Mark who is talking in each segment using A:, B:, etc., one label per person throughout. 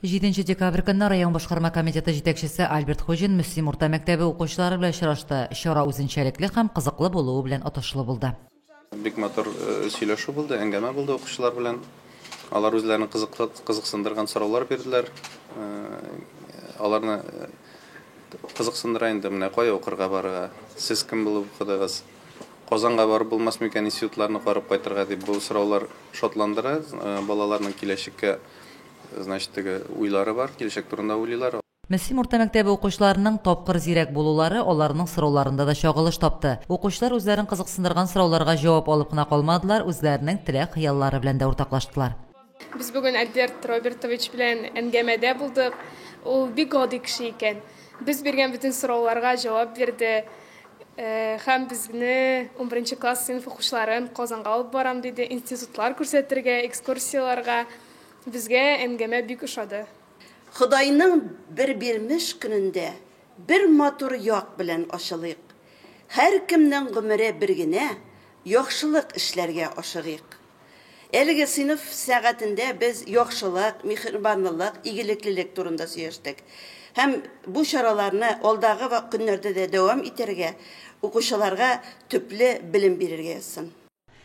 A: Җиденче декабрь көнне район башкарма комитеты җитәкчесе Альберт Хуҗин Мөслим урта мәктәбе укучылары белән очрашты, чара үзенчәлекле һәм кызыклы булуы белән отышлы булды. Бик матур
B: сөйләшү булды, әңгәмә булды укучылар белән. Алар үзләрен кызыклы, кызыксындырган сораулар бирделәр. Аларны кызыксындыра инде, менә кая укырга барырга, сез кем булып укыдыгыз, Казанга барып булмас микән институтларны карап кайтырга дип бу сораулар шатландыра. Балаларның киләчәккә значит теге уйлары бар, киләчәк турында уйлыйлар. Мөслим урта мәктәбе
A: укучыларының тапкыр зирәк булулары аларның сорауларында да чагылыш тапты. Укучылар үзләрен кызыксындырган сорауларга җавап алып кына калмадылар, үзләренең теләк-хыяллары белән дә уртаклаштылар. Без бүген
C: Альберт Робертович белән әңгәмәдә булдык. Ул бик гади кеше икән. Без биргән бөтен сорауларга җавап бирде. Һәм безне, унберенче класс сыйныф укучыларын Казанга алып барам диде, институтлар күрсәтергә, экскурсияләргә. Безгә әңгәмә бик ошады. Ходайның
D: бер бирмеш көнендә бер матур як белән ачылыйк. Һәркемнең гомере бер генә, яхшылык эшләргә ашыгыйк. Әлеге сыйныф сәгатендә без яхшылык, миһербанлылык, игелеклелек турында сөйләштек. Һәм бу чараларны алдагы ва көннәрдә дә дәвам итәргә, укучыларга төпле белем бирергә язсын.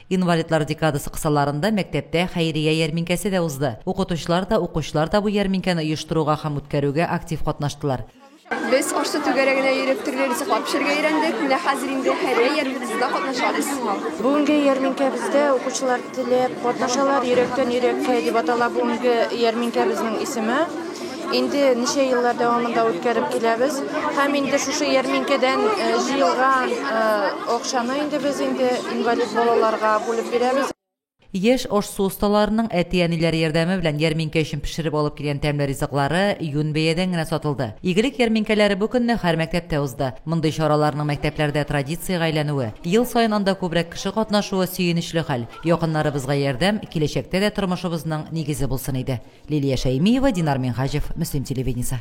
D: Инвалидлар
A: декадасы кысаларында мәктәптә хәйрия ярминкәсе дә узды. Укытучылар да, укучылар да бу ярминкәне оештыруга һәм үткәрүгә актив катнаштылар. Без Арча
E: түгәрәгенә йөреп төрле ризыклар пешерергә өйрәндек. Менә хәзер инде һәр ярминкәсендә катнашабыз. Бүгенге
F: ярминкәбездә укучылар теләп катнашалар. Йөрәктән йөрәккә дип атала бүгенге ярминкәбезнең исеме. Инде ничә еллар дәвамында үткәреп киләбез. Һәм инде шушы ярминкәдән э, җыелган э, акчаны инде без инде инвалид балаларга бүлеп бирәбез. Яшь ашсу
A: осталарының әти-әниләре ярдәме белән ярминкә өчен пешереп алып килгән тәмле ризыклары юнь бәядән генә сатылды. Игелек ярминкәләре бу көнне һәр мәктәптә узды. Мондый чараларның мәктәпләрдә традициягә әйләнүе, ел саен анда күбрәк кеше катнашуы сөенечле хәл. Якыннарыбызга ярдәм, киләчәктә дә тормышыбызның нигезе булсын иде. Лилия Шәймиева, Динар Минһаҗев, Мөслим телевидениесе.